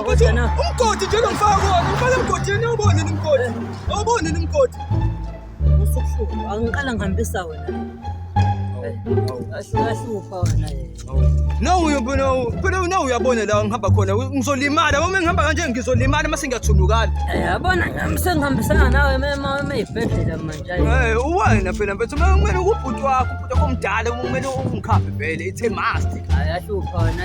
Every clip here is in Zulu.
Ukuthi umgodi nje lomfaka kuwona, umfaka emgodini awubone nomgodi. Awubone nomgodi. Usubuhlungu, angiqala ngihambisa wena. Ahlupha wena. No uyubu no, phela no uyabona la ngihamba khona. Ngizolimala, uma ngihamba kanje ngizolimala mase ngiyathunukala. Yabona ngami sengihambisana nawe mema uma ibhedlela manje. Eh, uwena phela mfethu, kumele ukubhuti wakho, ubhuti wakho omdala, kumele ungikhambe vele, it's a must. Ayahlupha wena.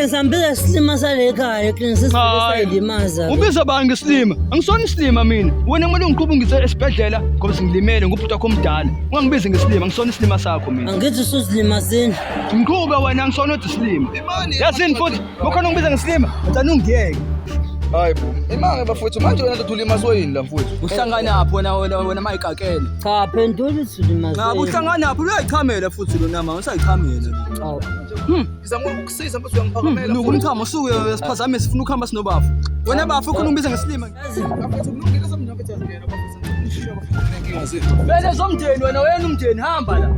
Ngisambile isilima salekhaya ekinisisi Hayi. sayilimaza. Ubiza bani ngesilima? Angisona isilima mina. Wena kumele ungiqhubu ngise esibhedlela ngoba sengilimele ngubhuti wakho omdala. Ungangibizi ngesilima, angisona isilima sakho mina. Angithi usuzilimazini. Ngiqhube wena angisona othi isilima. Yasini futhi, ukhona ungibiza ngesilima, ngicela ungiyeke. Hayi bo. Imanga bafowethu manje wena ndoda ulimazwe yini la mfowethu? Uhlanganaphi wena wena wena mayikakele? Cha phendula usulimazini. Ngaba uhlanganaphi? Uyayichamela futhi lona mama, usayichamela. Awu. Ngizama ukukusiza mfethu uyangiphakamela. Hmm, Luka umchamo suke eh, siphazame sifuna ukuhamba sinobafu. Wena bafu ufuna ungibiza ngesilima. Mfethu kulungile somntu mfethu azingena bafethu. Bese zomndeni wena wena umndeni hamba la.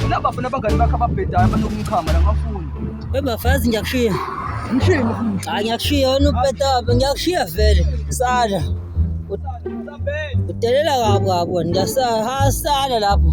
Wena bafu nabangani bakho ababhedayo abanokumchama la ngafuni. Webafazi ngiyakushiya. Ngishiya. Hayi ngiyakushiya wena ubheda ngiyakushiya vele. Sada. Udelela kabi kabi wena ngiyasahasala lapho.